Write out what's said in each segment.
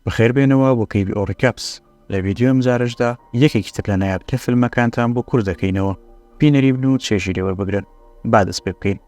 بەخێربێنەوە بۆ کەیڤی ئۆ ڕیکاپس، لە ڤیدیۆ ئەمجارەشدا یەکێکی تر لە نایابتر فیلمەکانتان بۆ کورت دەکەینەوە، بینەری بن و چێژی لێ وەربگرن. با دەست پێ بکەین.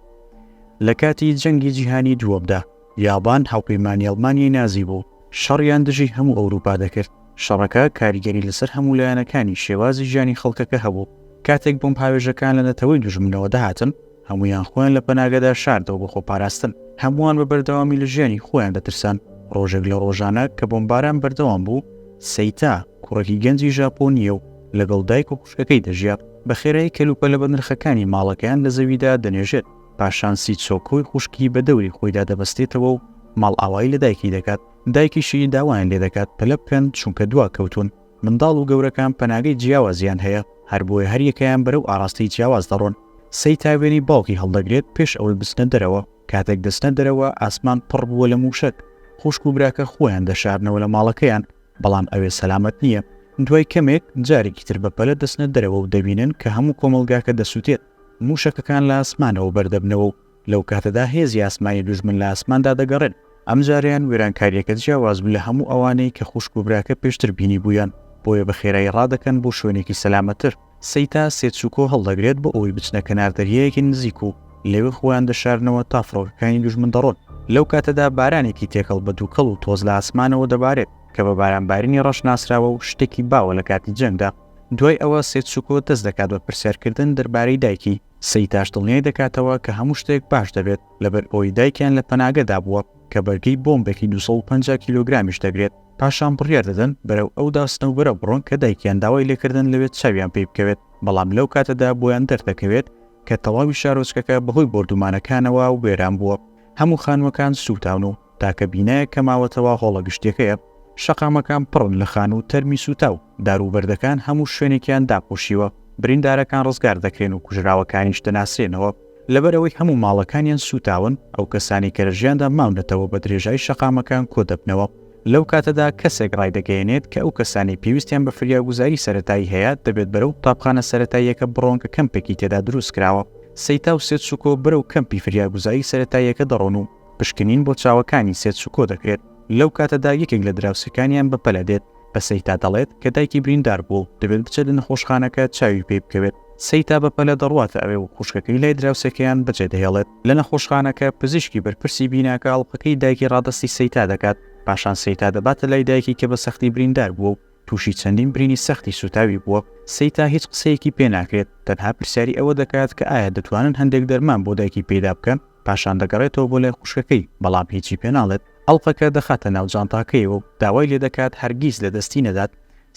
لە کاتی جەنگی جیهانی دووەمدا، یابان هاوپەیمانی ئەڵمانیای نازی بوو، شەڕیان دژی هەموو ئەوروپا دەکرد، شەڕەکە کاریگەری لەسەر هەموو لایەنەکانی شێوازی ژیانی خەڵکەکە هەبوو، کاتێک بۆمبهاوێژەکان لە نەتەوەی دوژمنەوە دەهاتن، هەموویان خۆیان لە پەناگەدا شاردەوە بۆ خۆپاراستن. هەمووان بە بەردەوامی لە ژیانی خۆیان دەترسان. ڕۆژێک لە ڕۆژانە کە بۆمباران بەردەوام بوو، سەیتا، کوڕێکی گەنجی ژاپۆنییە و لەگەڵ دایک و خوشکەکەی دەژیا، بە خێرایی کەلوپەلە بەنرخەکانی ماڵەکەیان لە زەویدا دەنێژێت، پاشان سیتسۆکۆی خوشکی بە دەوری خۆیدا دەبەستێتەوە و ماڵئاوایی لە دایکی دەکات، دایکیشی داوایان لێدەکات پەلە بکەن چونکە دواکەوتوون. منداڵ و گەورەکان پەناگەی جیاوازیان هەیە، هەر بۆیە هەر یەکەیان بەرەو ئاراستەی جیاواز دەڕۆن. سەیتا وێنەی باوکی هەڵدەگرێت پێش ئەوەی بچنە دەرەوە. کاتێک دەچنە دەرەوە، ئاسمان پڕ بووە لە مووشەک. خوشک و براکە خۆیان دەشارنەوە لە ماڵەکەیان، بەڵام ئەوێ سەلامەت نییە. دوای کەمێک، جارێکی تر بە پەلە دەچنە دەرەوە و دەبینن کە هەموو کۆمەڵگاکە دەسووتێت. مووشەکەکان لە ئاسمانەوە بەر دەبنەوە و لەو کاتەدا هێزی ئاسمانی دوژمن لە ئاسماندا دەگەڕێن، ئەم جارەیان وێرانکارییەکە جیاواز بوو لە هەموو ئەوانەی کە خوشک و براکە پێشتر بینیبوویان، بۆیە بە خێرایی ڕادەکەن بۆ شوێنێکی سەلامەتتر. سەیتا سێتسوکۆ هەڵدەگرێت بۆ ئەوەی بچنە کەنار دەریایەکی نزیک و لەوێ خۆیان دەشارنەوە تا فڕۆکەکانی دوژمن دەڕۆن. لەو کاتەدا بارانێکی تێکەڵ بە دووکەڵ و تۆز لە ئاسمانەوە دەبارێت، کە بە بارانبارینی ڕەش ناسراوە و شتێکی باوە لە کاتی جەنگدا. دوای ئەوە سێتسوکۆ دەست دەکات بە پرسیارکردن دەربارەی دایکی، سەیتاش دڵنیای دەکاتەوە کە هەموو شتێک باش دەبێت، لەبەر ئەوەی دایکیان لە پەناگەدا بووە، کە بەرگەی بۆمبێکی دوو سەد و پەنجا کیلۆگرامیش دەگرێت، پاشان بڕیار دەدەن بەرەو ئەو داسنەوبەرە بڕۆن کە دایکیان داوای لێکردن لەوێ چاویان پێی بکەوێت، بەڵام لەو کاتەدا بۆیان دەردەکەوێت کە تەواوی شارۆچکەکە بەهۆی بۆردومانەکانەوە وێران بووە. هەموو خانووەکان سووتاون و تاکە بینایەک کە ماوەتەوە هۆڵە گشتیەکەیە، شەقامەکان پڕن لە خانوو و تەرمی سووتاو، دار و بەردەکان هەموو شوێنێکیان داپۆشیوە، بریندارەکان ڕزگار دەکرێن و کوژراوەکانیش دەناسرێنەوە، لەبەرئەوەی هەموو ماڵەکانیان سووتاون، ئەو کەسانەی کە لە ژیاندا ماونەتەوە بە درێژای شەقامەکان کۆدەبنەوە، لەو کاتەدا کەسێک ڕایدەگەیەنێت کە ئەو کەسانەی پێویستیان بە فریاگوزاری سەرەتایی هەیە دەبێت بەرەو قوتابخانە سەرەتاییەکە بڕۆن کە کەمپێکی تێدا دروستکراوە. سەیتا و سێتسوکۆ بەرەو کەمپی فریاگوزاری سەرەتاییەکە دەڕۆن و پشکنین بۆ چاوەکانی سێتسوکۆ دەکرێت. لەو کاتەدا یەکێک لە دراوسێکانیان بە پەلە دێت بە سەیتا دەڵێت کە دایکی بریندار بووە و دەبێت بچێت لە نەخۆشخانەکە چاوی پێی بکەوێت. سەیتا بە پەلە دەڕواتە ئەوێ و خوشکەکەی لای دراوسێکەیان بەجێدەهێڵێت. لە نەخۆشخانەکە پزیشکی بەرپرسی بیناکە ئەڵقەکەی دایکی ڕادەستی سەیتا دەکات، پاشان سەیتا دەباتە لای دایکی کە بە سەختی بریندار بووە و تووشی چەندین برینی سەختی سووتاوی بووە، سەیتا هیچ قسەیەکی پێ ناکرێت، تەنها پرسیاری ئەوە دەکات کە ئایا دەتوانن هەندێک دەرمان بۆ دایکی پەیدا بکەن، پاشان دەگەڕێتەوە بۆ لای خوشکەکەی، بەڵام هیچی پێ ناڵێت، ئەڵقەکە دەخاتە ناو جانتاکەیەوە و داوای لێ دەکات هەرگیز لە دەستی نەدات.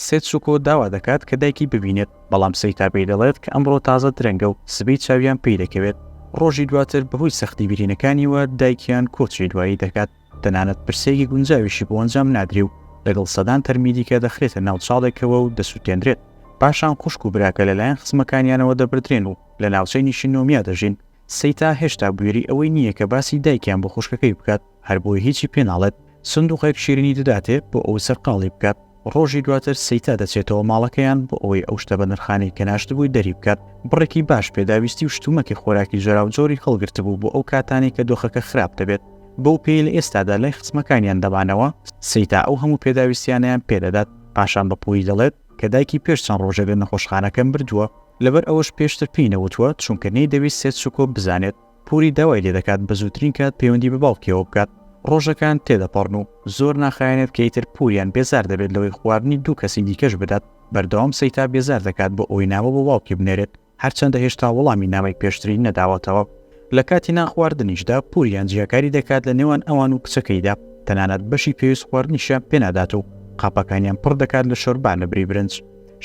سێتسوکۆ داوا دەکات کە دایکی ببینێت، بەڵام سەیتا پێی دەڵێت کە ئەمڕۆ تازە درەنگە و سبەی چاویان پێی دەکەوێت. ڕۆژی دواتر بەهۆی سەختی برینەکانییەوە دایکیان کۆچی دوایی دەکات، تەنانەت پرسەیەکی گونجاویشی بۆ ئەنجام نادرێ و لەگەڵ سەدان تەرمی دیکە دەخرێتە ناو چاڵێکەوە و دەسوتێندرێت. پاشان خوشک و براکە لەلایەن خزمەکانیانەوە دەبردرێن و لە ناوچەی نیشینۆمیا دەژین. سیتا هێشتا بوێری ئەوەی نییە کە باسی دایکیان بۆ خوشکەکەی بکات، هەر بۆیە هیچی پێ ناڵێت، سندووقێک شیرینی دەداتێ بۆ ئەوەی سەرقاڵی بکات، ڕۆژی دواتر سیتا دەچێتەوە ماڵەکەیان بۆ ئەوەی ئەو شتە بەنرخانەی کە ناشتبووی دەری بکات، بڕێکی باش پێداویستی و شتومەکی خۆراکی جۆراوجۆری هەڵگرتبوو بۆ ئەو کاتانەی کە دۆخەکە خراپ دەبێت، بەو پێیەی لە ئێستادا لای خزمەکانیان دەمانەوە، سیتا ئەو هەموو پێداویستیانەیان پێ دەدات، پاشان بە پووری دەڵێت، کە دایکی پێش چەند ڕۆژێک لە نەخۆشخانەکە مردووە، لەبەر ئەوەش پێشتر پێی نەوتووە، چونکە نەیدەویست سێتسوکۆ بزانێت، پوری داوای لێدەکات بە زووترین کات پەیوەندی بە باوکیەوە بکات، ڕۆژەکان تێدەپەڕن و زۆر ناخایەنێت کە ئیتر پوریان بێزار دەبێت لەوەی خواردنی دوو کەسی دیکەش بدات، بەردەوام سەیتا بێزار دەکات بۆ ئەوەی نامە بۆ باوکی بنێرێت، هەرچەندە هێشتا وەڵامی نامەی پێشتری نەداوەتەوە، لە کاتی نان خواردنیشدا پوریان جیاکاری دەکات لە نێوان ئەوان و کچەکەیدا، تەنانەت بەشی پێویست خواردنیشیان پێنادات و قاپەکانیان پڕ دەکات لە شۆربا لە بری برنج.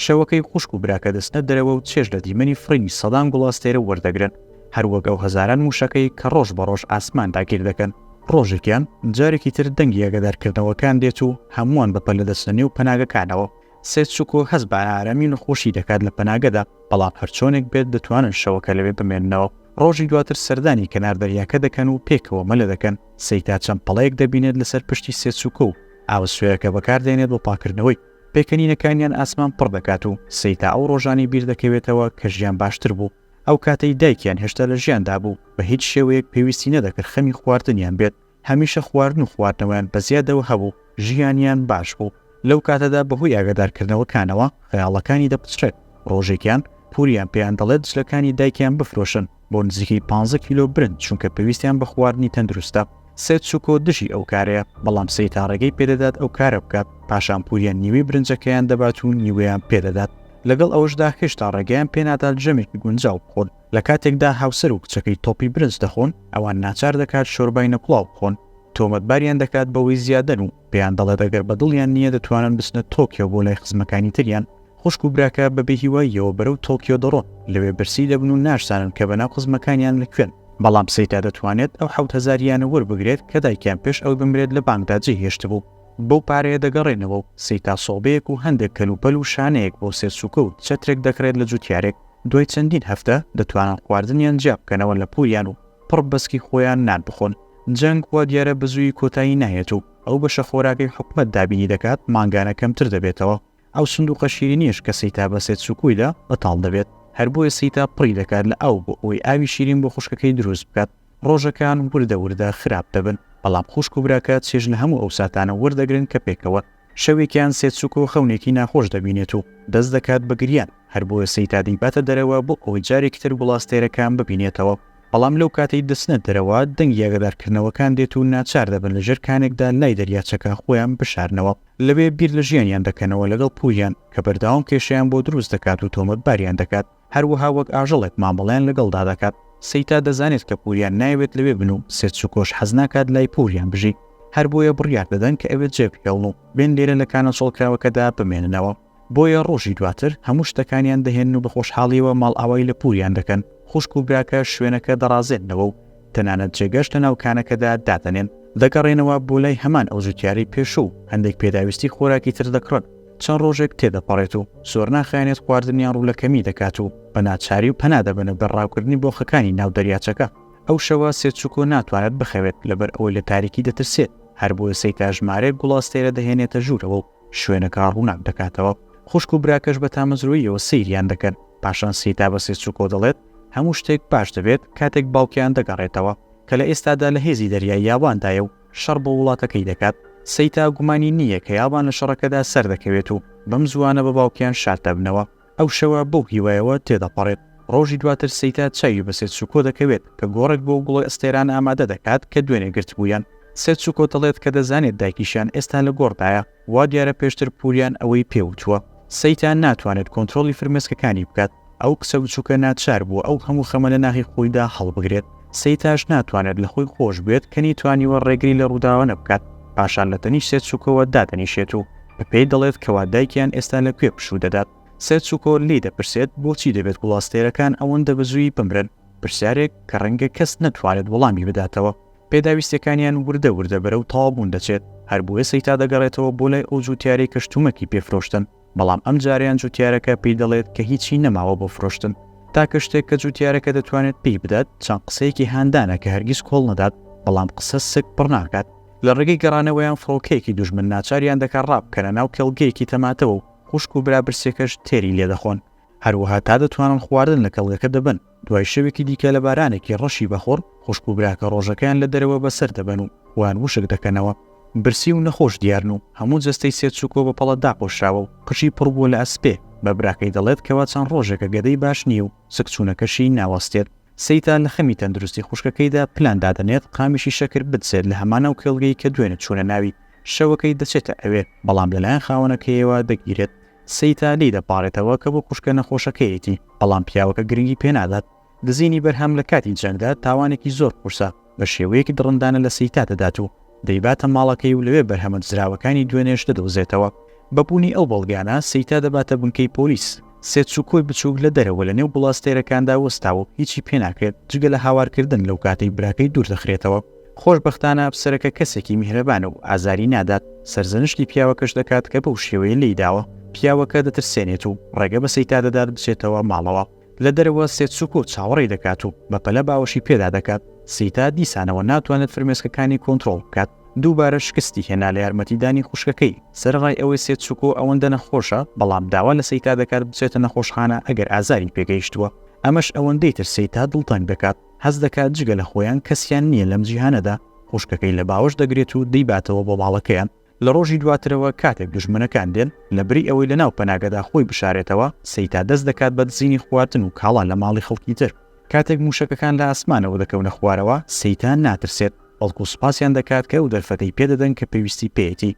شەوەکەی خوشک و براکە دەچنە دەرەوە و چێژ لە دیمەنی فڕینی سەدان گوڵ ئەستێرە وەردەگرن، هەروەک ئەو هەزاران موشەکەی کە ڕۆژ بە ڕۆژ ئاسمان داگیر دەکەن. ڕۆژێکیان جارێکی تر دەنگی ئاگادارکردنەوەکان دێت و هەمووان بە پەلە دەچنە نێو پەناگەکانەوە، سێتسوکۆ هەست بە ئارامی و نەخۆشی دەکات لە پەناگەدا، بەڵام هەرچۆنێک بێت دەتوانن شەوەکە لەوێ بمێننەوە. ڕۆژی دواتر سەردانی کەنار دەریاکە دەکەن و پێکەوە مەلە دەکەن. سەیتا چەند پەڵەیەک دەبینێت لەسەر پشتی سێتسوکۆ و ئاوە سوێرەکە بەکاردێنێت بۆ پاککردنەوەی. پێکەنینەکانیان ئاسمان پڕ دەکات و سەیتا ئەو ڕۆژانەی بیردەکەوێتەوە کە ژیان باشتر بوو. ئەو کاتەی دایکیان هێشتا لە ژیاندا بوو، بە هیچ شێوەیەک پێویستی نەدەکرد خەمی خواردنیان بێت. هەمیشە خواردن و خواردنەوەیان بە زیادەوە هەبوو، ژیانیان باش بوو، لەو کاتەدا بەهۆی ئاگادارکردنەوەکانەوە خەیاڵەکانی دەپچڕێت، ڕۆژێکیان پوریان پێیان دەڵێت جلەکانی دایکیان بفرۆشن بۆ نزیکەی پانزە کیلۆ برنج چونکە پێویستیان بە خواردنی تەندروستە، سێتسوکۆ دژی ئەو کارەیە، بەڵام سەیتا ڕێگەی پێدەدات ئەو کارە بکات، پاشان پوریان نیوەی برنجەکەیان دەبات و نیوەیان پێدەدات، لەگەڵ ئەوەشدا هێشتا ڕێگەیان پێنادات ژەمێکی گونجاو بخۆن، لە کاتێکدا هاوسەر و کچەکەی تۆپی برنج دەخۆن، ئەوان ناچار دەکات شۆربای نەکوڵاو بخۆن، تۆمەتباریان دەکات بەوەی زیادەن و پێیان دەڵێت ئەگەر بە دڵیان نییە دەتوانن بچنە تۆکیۆ بۆ لای خزمەکانی تریان. خوشک و براکە بە بێهیواییەوە بەرەو تۆکیۆ دەڕۆن، لەوێ برسی دەبن و ناشزانن کە بەناو خزمەکانیان لە کوێن، بەڵام سەیتا دەتوانێت ئەو حەوت هەزار یانە وەربگرێت کە دایکیان پێش ئەوەی بمرێت لە بانکدا جێهێشتبوو، بەو پارەیە دەگەڕێنەوە و سەیتا سۆبەیەک و هەندێک کەلوپەل و شانەیەک بۆ سێرچووکە و چەترێک دەکڕێت لە جووتیارێک. دوای چەندین هەفتە دەتوانن خواردنیان جیا بکەنەوە لە پووریان و پڕ بەسکی خۆیان نان بخۆن. جەنگ وا دیارە بەزوویی کۆتایی نایەت و ئەو بەشە خۆراکەی حکومەت دابینی دەکات مانگانە کەمتر دەبێتەوە. ئەو سندووقە شیرینیەش کە سیتا بە سێتسوکویدا بەتاڵ دەبێت. هەر بۆیە سیتا پڕی دەکات لە ئاو بۆ ئەوەی ئاوی شیرین بۆ خوشکەکەی دروست بکات. ڕۆژەکان وردە وردە خراپ دەبن، بەڵام خوشک و براکە چێژ لە هەموو ئەو ساتانە وەردەگرن کە پێکەوە شەوێکیان سێچک و خەونێکی ناخۆش دەبینێت و دەست دەکات بە گریان، هەر بۆیە سەیتا دەیباتە دەرەوە بۆ ئەوەی جارێکی تر گوڵاستێرەکان ببینێتەوە، بەڵام لەو کاتەی دەچنە دەرەوە دەنگی ئاگادارکردنەوەکان دێت و ناچار دەبن لە ژێر کانێکدا لای دەریاچەکە خۆیان بشارنەوە، لەوێ بیر لە ژیانیان دەکەنەوە لەگەڵ پوریان کە بەردەوام کێشەیان بۆ دروست دەکات و تۆمەتباریان دەکات. هەروەها وەک ئاژەڵێک مامەڵەیان لەگەڵدا دەکات. سەیتا دەزانێت کە پوریان نایەوێت لەوێ بن و سێرچوکۆش حەز ناکات لای پوریان بژی، هەر بۆیە بڕیار دەدەن کە ئەوێ جێ بهێڵن و بێن لێرە لە کانە چۆڵکراوەکەدا بمێننەوە. بۆیە ڕۆژی دواتر هەموو شتەکانیان دەهێنن و بە خۆشحاڵییەوە ماڵئاوای لە پوریان دەکەن، خوشک و براکە شوێنەکە دەڕازێننەوە و تەنانەت جێگەش لە ناو کانەکەدا دادەنێن. دەگەڕێنەوە بۆ لای هەمان ئەو جوتیارەی پێشوو و هەندێک پێداویستی خۆراکی تر دەکڕن. چەند ڕۆژێک تێدەپەڕێت و زۆر ناخایەنێت خواردنیان ڕوو لە کەمی دەکات و بە ناچاری و پەنا دەبەنە بەر ڕاوکردنی بۆخەکانی ناو دەریاچەکە. ئەو شەوە سێتسوکۆ ناتوانێت بخەوێت لەبەر ئەوەی لە تاریکی دەترسێت، هەر بۆیە سەیتا ژمارەیەک گوڵ ئەستێرە دەهێنێتە ژوورەوە و شوێنەکە ڕووناک دەکاتەوە. خوشک و براکەش بە تامەزرۆییەوە سەیریان دەکەن. پاشان سیتا بە سێسوکۆ دەڵێت، هەموو شتێک باش دەبێت کاتێک باوکیان دەگەڕێتەوە، کە لە ئێستادا لە هێزی دەریای یاباندایە و شەڕ بۆ وڵاتەکەی دەکات. سیتا گومانی نییە کە یابان لە شەڕەکەدا سەردەکەوێت و بەم زووانە بە باوکیان شاد دەبنەوە. ئەو شەوە بەو هیوایەوە تێدەپەڕێت ڕۆژی دواتر سێیتا چاوی بە سێتسوکۆ دەکەوێت کە گۆڕێک بۆ گوڵی ئەستێران ئامادە دەکات کە دوێنێ گرتبوویان. سێتسوکۆ دەڵێت کە دەزانێت دایکیشیان ئێستا لە گۆڕدایە، وا دیارە پێشتر پوریان ئەوەی پێ وتووە. سێیتا ناتوانێت کۆنترۆڵی فرمێسکەکانی بکات، ئەو کچە بچووکە ناچار بووە ئەو هەموو خەمە لە ناخی خۆیدا هەڵبگرێت. سەیتاش ناتوانێت لە خۆی خۆش بێت کە نیتوانیوە ڕێگری لە ڕووداوانە بکات، پاشان لە تەنیشت سێتسوکۆوە دادەنیشێت و بە پێی دەڵێت کەوا دایکیان ئێستا لە کوێ پشوو دەدات. سێتسوکۆ لێی دەپرسێت بۆچی دەبێت گوڵاستێرەکان ئەوەندە بە زووی بمرن، پرسیارێک کە ڕەنگە کەس نەتوانێت وەڵامی بداتەوە. پێداویستیەکانیان وردە وردە بەرەو تەواوبوون دەچێت، هەر بۆیە سەیتا دەگەڕێتەوە بۆ لای ئەو جووتیارەی کە شتومەکی پێ فرۆشتن. بەڵام ئەم جارەیان جوتیارەکە پێی دەڵێت کە هیچی نەماوە بۆ فرۆشتن، تاکە شتێک کە جوتیارەکە دەتوانێت پێی بدات چەند قسەیەکی هاندانە کە هەرگیز کۆڵ نەدات، بەڵام قسە سک پڕ ناکات. لە ڕێگەی گەڕانەوەیان فڕۆکەیەکی دوژمن ناچاریان دەکات ڕابکەنە ناو کێڵگەیەکی تەماتەوە و خوشک و برا برسێکەش تێری لێدەخۆن، هەروەها تا دەتوانن خواردن لە کێڵگەکە دەبەن. دوای شەوێکی دیکە لە بارانێکی ڕەشی بەخوڕ، خوشک و براکە ڕۆژەکەیان لە دەرەوە بەسەر دەبەن و وان وشک دەکەنەوە. برسی و نەخۆش دیارن و هەموو جەستەی سێرچوکۆ بە پەڵە داپۆشراوە و قژی پڕبووە لە ئەسپێ، بە براکەی دەڵێت کەوا چەند ڕۆژێکە گەدەی باش نییە و سکچوونەکەشی ناوەستێت. سەیتا لە خەمی تەندروستی خوشکەکەیدا پلان دادەنێت قامیشی شەکر بدزێت لە هەمان ئەو کێڵگەی کە دوێنێ چوونە ناوی، شەوەکەی دەچێتە ئەوێ، بەڵام لەلایەن خاوەنەکەیەوە دەگیرێت. سیتا لێی دەپاڕێتەوە کە بۆ خوشکە نەخۆشەکەیەتی، بەڵام پیاوەکە گرنگی پێنادات. دزینی بەرهەم لە کاتی جەنگدا تاوانێکی زۆر قورسە، بە شێوەیەکی دڕندانە لە سیتا دەدات و دەیباتە ماڵەکەی و لەوێ بەرهەمە دزراوەکانی دوێنێش دەدۆزێتەوە. بە بوونی ئەو بەڵگانە، سیتا دەباتە بنکەی پۆلیس. سێتسوکۆی بچووک لە دەرەوە لەنێو بڵاستێرەکاندا وەستاوە و هیچی پێناکرێت، جگە لە هاوارکردن لەوکاتەی براکەی دووردەخرێتەوە. خۆشبەختانە ئەفسەرەکە کەسێکی میهرەبانە و ئازاری نادات، سەرزەنشتی پیاوەکەش دەکات کە بەو شێوەیە لێی داوە، پیاوەکە دەترسێنێت و ڕێگە بە سەیتا دەدات بچێتەوە ماڵەوە، لە دەرەوە سێتسوکۆ چاوەڕێی دەکات و بەپەلە باوەشی پێدا دەکات، سەیتا دیسانەوە ناتوانێت فرمێسکەکانی کۆنترۆڵ بکات، دووبارە شکستی هێنا لە یارمەتیدانی خوشکەکەی، سەرەڕای ئەوەی سێتسوکۆ ئەوەندە نەخۆشە، بەڵام داوا لە سەیتا دەکات بچێتە نەخۆشخانە ئەگەر ئازاری پێگەیشتووە، ئەمەش ئەوەندەی تر سەیتا دڵتەنگ دەکات. هەست دەکات جگە لە خۆیان کەسیان نییە لەم جیهانەدا، خوشکەکەی لە باوەش دەگرێت و دەیباتەوە بۆ ماڵەکەیان، لە ڕۆژی دواترەوە کاتێک دوژمنەکان دێن، لە بری ئەوەی لە ناو پەناگەدا خۆی بشارێتەوە، سەیتا دەست دەکات بە دزینی خواردن و کاڵا لە ماڵی خەڵکی تر. کاتێک مووشەکەکان لە ئاسمانەوە دەکەونە خوارەوە، سەیتا ناترسێت، بەڵکو سوپاسیان دەکات کە ئەو دەرفەتەی پێ دەدەن کە پێویستی پێیەتی.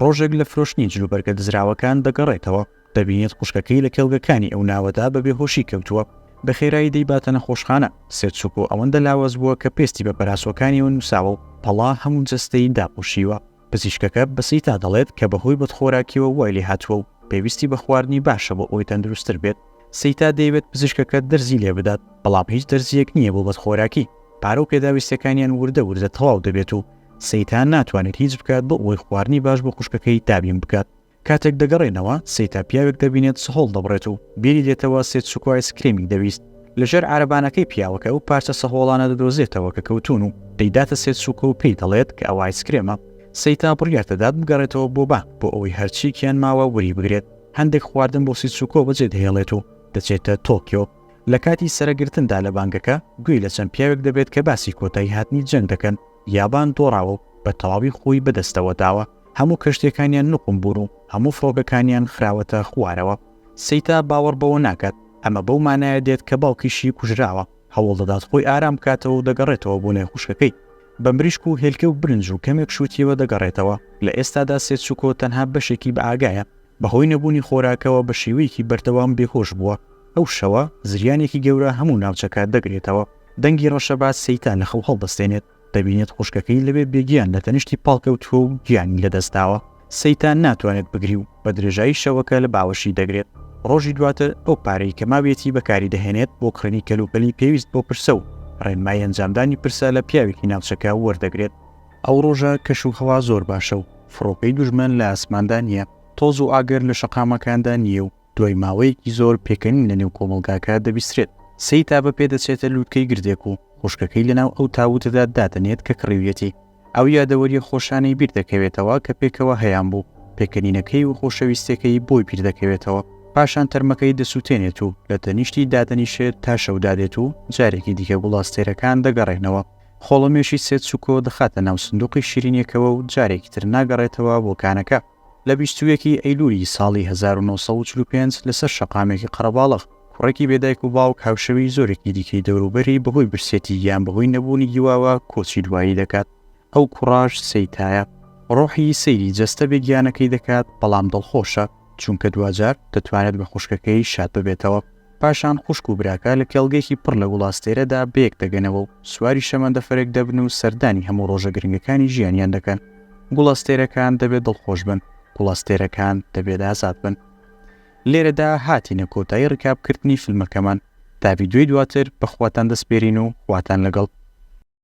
ڕۆژێک لە فرۆشتنی جلوبەرگە دزراوەکان دەگەڕێتەوە، دەبینێت خوشکەکەی لە کێڵگەکانی ئەو ناوەدا بە بێهۆشی کەوتووە، بە خێرایی دەیباتە نەخۆشخانە، سێتسوکۆ ئەوەندە لاواز بووە کە پێستی بە پەراسۆکانیەوە نووساوە و پەڵا هەموو جەستەی داپۆشیوە، پزیشکەکە بە سیتا دەڵێت کە بەهۆی بەدخۆراکیەوە وای لێهاتووە و پێویستی بە خواردنی باشە بۆ ئەوەی تەندروستتر بێت، سیتا دەیەوێت پزیشکەکە دەرزی لێبدات، بەڵام هیچ دەرزییەک نییە بۆ بەدخۆراکی، پارە و پێداویستیەکانیان وردە وردە تەواو دەبێت و سیتا ناتوانێت هیچ بکات بۆ ئەوەی خواردنی باش بۆ خوشکەکەی دابین بکات، کاتێک دەگەڕێنەوە، سیتا پیاوێک دەبینێت سهۆڵ دەبڕێت و بیری دێتەوە سێتسوکۆ ئایسکرێمی دەویست. لە ژێر عارەبانەکەی پیاوەکە ئەو پارچە سەهۆڵانە دەدۆزێتەوە کە کەوتوون و دەیداتە سێتسوکۆ و پێی دەڵێت کە ئەوە ئایسکرێمە. سیتا بڕیار دەدات بگەڕێتەوە بۆ بانک بۆ ئەوەی هەرچییەکیان ماوە وەری بگرێت. هەندێک خواردن بۆ سیتسوکۆ بەجێدەهێڵێت و دەچێتە تۆکیۆ. لە کاتی سەرە گرتندا لە بانگەکە، گوێی لە چەند پیاوێک دەبێت کە باسی کۆتایی هاتنی جەنگ دەکەن. یابان دۆڕاوە و بە تەواوی خۆی بەدەستەوە داوە. هەموو کەشتیەکانیان نوقم بوون و هەموو فڕۆکەکانیان خراوەتە خوارەوە. سیتا باوەڕ بەوە ناکات، ئەمە بەو مانایە دێت کە باوکیشی کوژراوە، هەوڵ دەدات خۆی ئارام بکاتەوە و دەگەڕێتەوە بۆ لای خوشکەکەی. بە مریشک و هێلکە و برنج و کەمێک شووتییەوە دەگەڕێتەوە. لە ئێستادا سێتسوکۆ تەنها بەشێکی بەئاگایە. بەهۆی نەبوونی خۆراکەوە بە شێوەیەکی بەردەوام بێهۆش بووە. ئەو شەوە زریانێکی گەورە هەموو ناوچەکە دەگرێتەوە. دەنگی ڕەشەبا سیتا لە خەو هەڵدەستێنێت. دەبینێت خوشکەکەی لەوێ بێگیان لە تەنیشتی پاڵکەوتووە و گیانی لەدەستداوە، سەیتان ناتوانێت بگری و بە درێژایی شەوەکە لە باوەشی دەگرێت، ڕۆژی دواتر ئەو پارەی کە ماویەتی بەکاری دەهێنێت بۆ کڕینی کەلوپەلی پێویست بۆ پرسە و ڕێنمای ئەنجامدانی پرسە لە پیاوێکی ناوچەکە وەردەگرێت. ئەو ڕۆژە کەش و هەوا زۆر باشە و فڕۆکەی دوژمن لە ئاسماندا نییە، تۆز و ئاگر لە شەقامەکاندا نییە و دوای ماوەیەکی زۆر پێکەنین لەنێو کۆمەڵگاکە دەبیسترێت، سەیتابە پێدەچێتە لووتکەی گردێک و خوشکەکەی لەناو ئەو تاووتەدا دادەنێت کە کڕیویەتی، ئەو یادەوەرییە خۆشانەی بیردەکەوێتەوە کە پێکەوە هەیانبوو، پێکەنینەکەی و خۆشەویستیەکەی بۆی بیردەکەوێتەوە، پاشان تەرمەکەی دەسووتێنێت و لە تەنیشتی دادەنیشێت تا شەو دادێت و جارێکی دیکە گوڵاستێرەکان دەگەڕێنەوە، خۆڵەمێشی سێتسوکۆ دەخاتە ناو سندوقی شیرینیەکەوە و جارێکی تر ناگەڕێتەوە بۆ کانەکە. لە بیست و یەک ی ئەیلوولی ساڵی هەزار و نۆ سەد و چل و پێنج لەسەر شەقامێکی قەرەباڵغ، کوڕێکی بێ دایک و باوک هاوشێوەی زۆرێکی دیکەی دەوروبەری بەهۆی برسێتی یان بەهۆی نەبوونی هیواوە کۆچی دوایی دەکات. ئەو کوڕەش سەیتایە. ڕۆحی سەیری جەستە بێگیانەکەی دەکات، بەڵام دڵخۆشە، چونکە دواجار دەتوانێت بە خوشکەکەی شاد ببێتەوە. پاشان خوشک و براکە لە کێڵگەیەکی پڕ لە گوڵاستێرەدا بەیەک دەگەنەوە و سواری شەمەندەفەرێک دەبن و سەردانی هەموو ڕۆژە گرنگەکانی ژیانیان دەکەن. گوڵەستێرەکان دەبێ دڵخۆش بن، گوڵەستێرەکان دەبێت ئازاد بن. لێرەدا هاتینە کۆتایی ڕکابکردنی فیلمەکەمان. تا ڤیدیۆی دواتر، بە خواتان دەسپێرین و خواتان لەگەڵ.